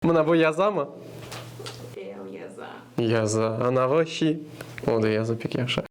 Mına bu yazamı? Ev yaza. Yaza. Anavı şi. O da yaza pek yahşı.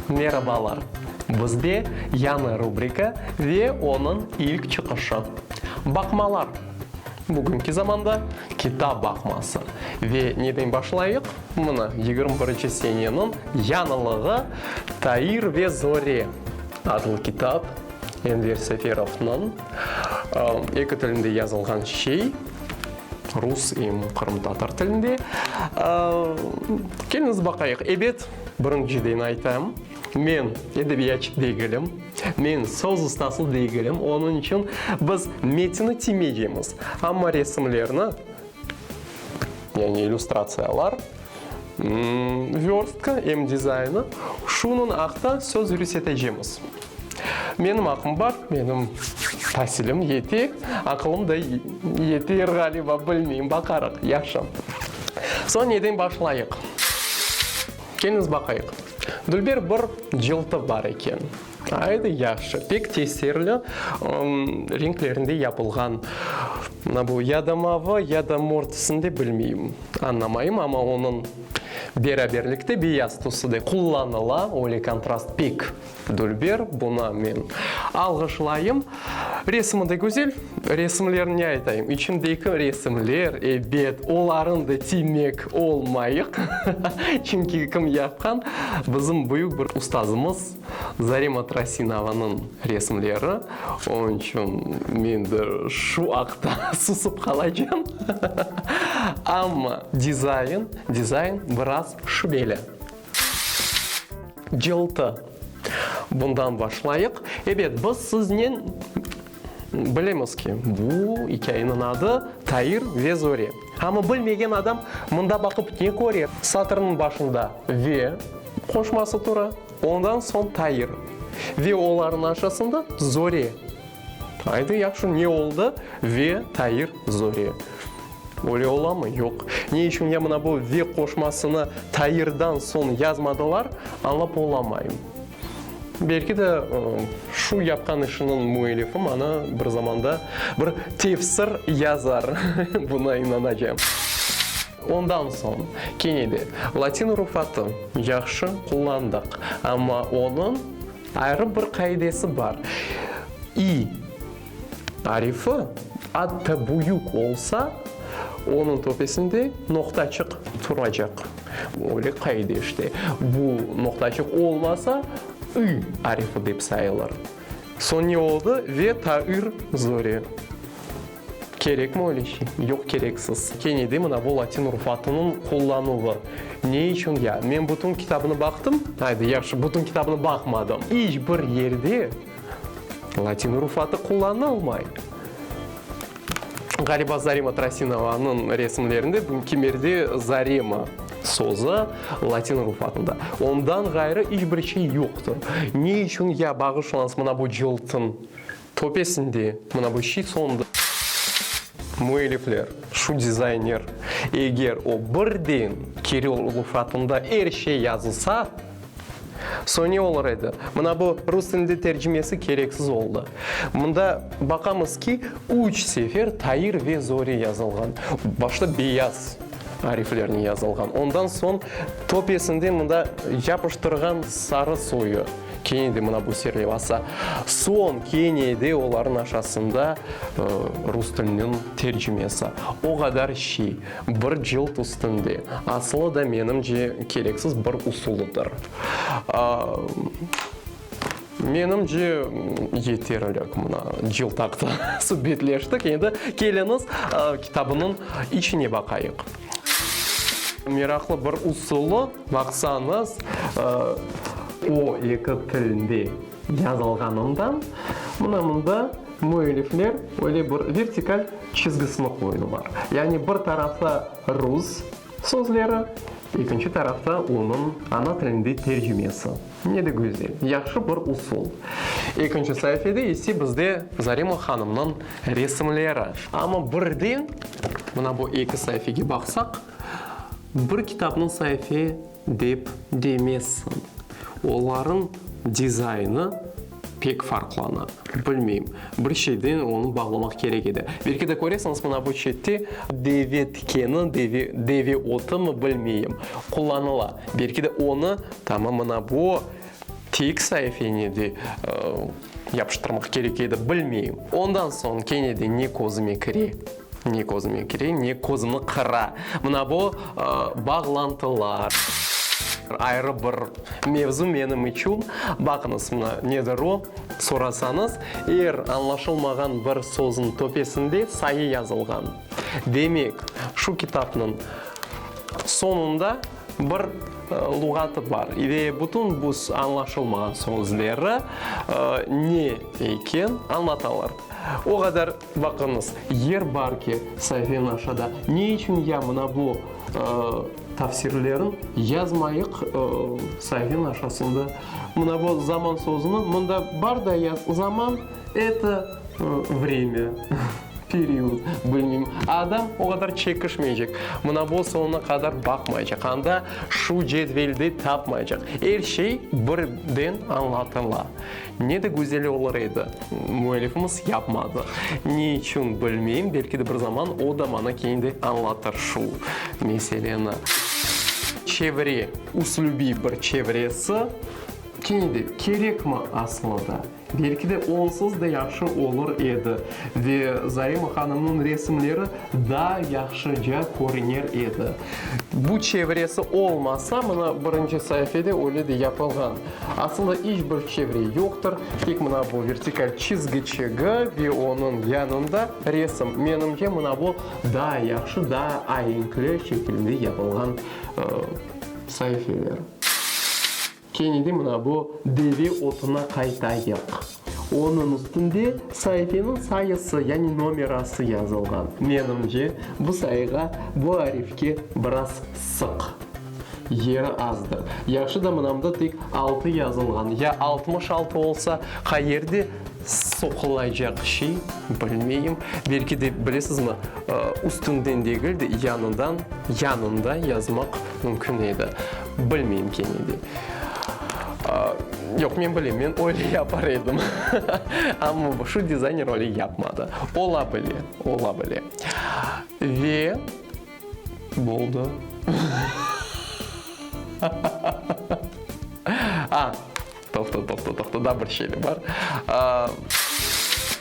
Merabalar! Bizde yañı rubrika ve onıñ ilk çıqışı. Baqmalar, bugünki zamanda kitap baqması. Ve neden başlayıq? Mına, yigirmi birinci seneniñ yañılığı Tair ve Zore adlı kitap, Enver Seferovnıñ, eki tilinde yazılğan şey, rus em qırımtatar tilinde. Keliñiz baqayıq. Ebet, birinciden aytam. Men edebiyatçı degilim, men söz ustası degilim, onıñ içün biz metni tiymeycemiz, amma resimlerni, yani illüstratsiyalar, vörstki em dizaynı şunıñ aqta söz yürüsetecemiz. Menim aqım bar, menim tasilim yete, aqılım da yeter ğaliba, bilmeyim, baqarıq. Yahşı. Soñ neden başlayıq? Keliñiz baqayıq. Dülber bir cıltı bar eken. Aydı, yahşı, pek tesirli renklerinde yapılğan. Mına bu ya da mavı, ya da mor tüsünde, bilmeyim, añlamayım, amma onıñ beraberlikte beyaz tüsü de qullanıla, öyle kontrast pek Dülber, Buna men alğışlayım. Resmi de güzel. Resimler ne aytayım, içindeki resimler, ebet, olarıñ da tiymek olmayıq. Çünki kim yapqan, bizim büyük bir ustazımız Zarema Trasinovanıñ resimleri. Onıñ içün men de şu aqta susıp qalacam. Amma dizayn, dizayn biraz şübeli. Cıltı. Bundan başlayıq. Ebet, biz siznen bilemiz ki, bu ikâyeniñ adı Tair ve Zore. Amma bilmegen adam mında baqıp ne köre? Satırnıñ başında ve qoşması tura, ondan soñ Tair ve olarnıñ aşasında Zore. Aydı yahşı ne oldı ve tayır zori. Öyle olamı? Yoq. Ne içün ya mına bu ve qoşmasını tayırdan soñ yazmadılar, añlap olamayım. Belki de şu yapqan işiniñ müellifi maña bir zamanda bir tefsir yazar, buna inanacam. Ondan soñ kene de latin rufatı yahşı qullandıq, amma onıñ. Ayrı bir qaidesi bar, i arifi atta büyük olsa, onıñ töpesinde noqtacıq turacaq. Öyle qaide işte. Bu noqtacıq olmasa, ü arifi dep sayılır. Soñ ne oldı? Ve tair zori. Kerekmi öyle şey? Yoq, kereksiz. Kene de mına bu latin urfatınıñ qullanuvı. Ne içün ya? Men bütün kitabını baqtım, aydı, yahşı, bütün kitabını baqmadım. İç bir yerde latin urufatı qullanılmay. Ğaliba Zarema Trasinova'nıñ resimlerinde bu kimerde Zarema sözü latin urufatında. Ondan ğayrı iç bir şey yoqtır. Ne içün ya bağışlañız mına bu cıltın Töpesinde, mına bu şiit soñunda müellifler, şu dizayner, eger o birden kiril lufratında er şey yazılsa, soñ ne olur edi? Mına bu rus tilinde tercimesi kereksiz oldı. Mında baqamız ki, üç sefer Tair ve Zori yazılğan. Başta beyaz ariflernen yazılğan, ondan soñ töpesinde mında yapıştırğan sarı soyu. Kene de mına bu ser levası. Soñ kene de olarnıñ aşasında rus tiliniñ tercimesi. O qadar şiy, bir cılt üstünde. Asılı da menimce kereksiz bir usulıdır. Menimce yeterlik mına cılt aqqı subetleştik. Endi keliñiz kitabınıñ içine baqayıq. Meraqlı bir usulı baqsañız, o eki tilinde yazılğanından, mına mında müellifler öyle bir vertikal çizgisini qoydılar. Yani bir tarafta rus sözleri, ekinci tarafta onıñ ana tilinde tercümesi. Ne de güzel, yahşı bir usul. Ekinci saifede ise bizde Zarema hanımnıñ resimleri. Amma birden, mına bu eki saifege baqsaq, bir kitapnıñ saife dep demezsiñ. Olarnıñ dizaynı. Pek farqlana. Bilmeyim. Bir şeyden onı bağlamaq kerek edi. Belki de köresiñiz, mına bu çette deve tikeni, deve, deve otımı, bilmeyim, qullanıla. Belki de onı, tamam, mına bu tek saifeni de, ıı, yapıştırmaq kerek edi. Bilmeyim. Ondan soñ kene de ne közüme kire? Ne közüme kire, ne közümni qıra. Mına bu bağlantılar. Ayrı bir mevzu menim içün. Baqıñız, mına nedir o? Sorasañız, er añlaşılmağan bir sözniñ töpesinde sayı yazılğan. Demek, şu kitapnıñ soñunda bir luğatı bar. Ve bütün bu añlaşılmağan sözleri ne eken, añlatalar. O qadar Baqıñız, yer bar ki, sayfenin aşağıda ne içün ya mına bu tafsirlerin yazmayıq sayfenin aşağısında mına bu zaman sözüni mında bar da ya zaman eto vremya, period, bilmeyim, adam o qadar çekişmeycek, mına bu soñuna qadar baqmaycaq, anda şu cedvelde tapmaycaq, er şey birden añlatıla. Ne de güzel olur edi. Müellifimiz yapmadı. Ne içün, bilmeyim, belki de bir zaman o da maña keyin de añlatır şu meseleni. Çevre, üslübiy bir çevresi, kene de, kerekmi aslı da? Belki de, onsız da yahşı olur edi ve Zarema hanımnıñ resimleri daa yahşıca körüner edi. Bu çevresi olmasa, mına birinci saifede öyle de yapılğan. Asılda iç bir çevre yoqtır, tek mına bu vertikal çizgi çegı ve onıñ yanında resim. Menimce, mına bu daa yahşı, daa aenkli şekilde yapılğan saifeler. Kene de mına bu deve otuna qaytayıq. Onıñ üstünde saifeniñ sayısı, yani nomerası yazılğan. Menimce, bu sayığa, bu arifke biraz sıq. Yeri azdır. Yahşı da mınamda tek altı yazılğan. Ya altmış altı olsa, qayerde soqulaycaq şey, bilmeyim. Belki de, bilesizmi, üstünden degil de, yanıdan, yanında yazmaq mümkün edi. Bilmeyim kene de. Yoq, men bilem, men öyle yapar edim. Amma şu dizayner öyle yapmadı. Ola bile, ola bile. Ve boldı. A! Toqta, toqta, toqta, daa bir şeyler bar.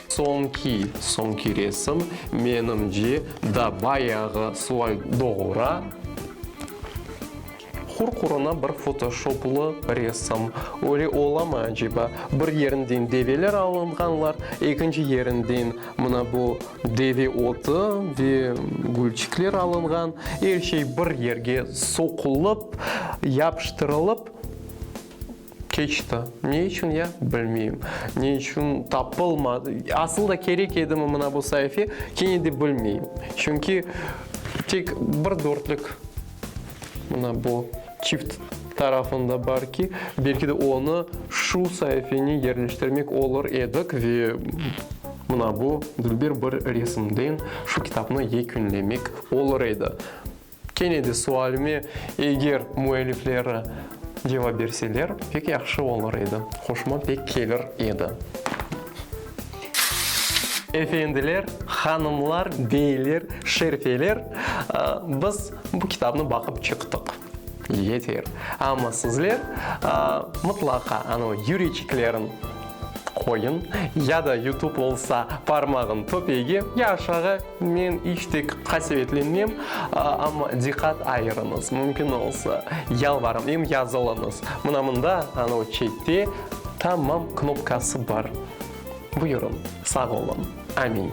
Soñki, soñki resim, menimce, daa bayağı solay doğura. Hur-huruna bir fotoshoplı resim. Öyle olamı aceba? Bir yerinden develer alınğanlar, ekinci yerinden mına bu deve otı ve gülçikler alınğan. Er şey bir yerge soqulıp, yapıştırılıp. Keçti. Ne içün ya, bilmeyim. Ne içün tapılmadı. Asıl da kerek edimi mına bu saifi, kene de bilmeyim. Çünki tek bir dörtlük mına bu çift tarafında bar ki, belki de onı şu saifeni yerleştirmek olur edik ve mına bu, Dülber bir resimden şu kitapnı yekünlemek olur edi. Kene de sualime, eger müellifleri cevap berseler, pek yahşı olur edi, hoşuma pek kelir edi. Efendiler, hanımlar, beyler, şerfeler, biz bu kitabnı baqıp çıqtıq, yeter. Amma sizler mıtlaqa anı yüreçiklerin qoyuñ, ya da yutub olsa parmağın töpegi, ya aşağı, Men iç de qasevetlenmem, amma diqqat ayırıñız, mümkün olsa, yalvarım, em yazılıñız. Mına mında, anı o çette, Tamam knopkası bar. Buyurıñ. Sağ olun. Amin.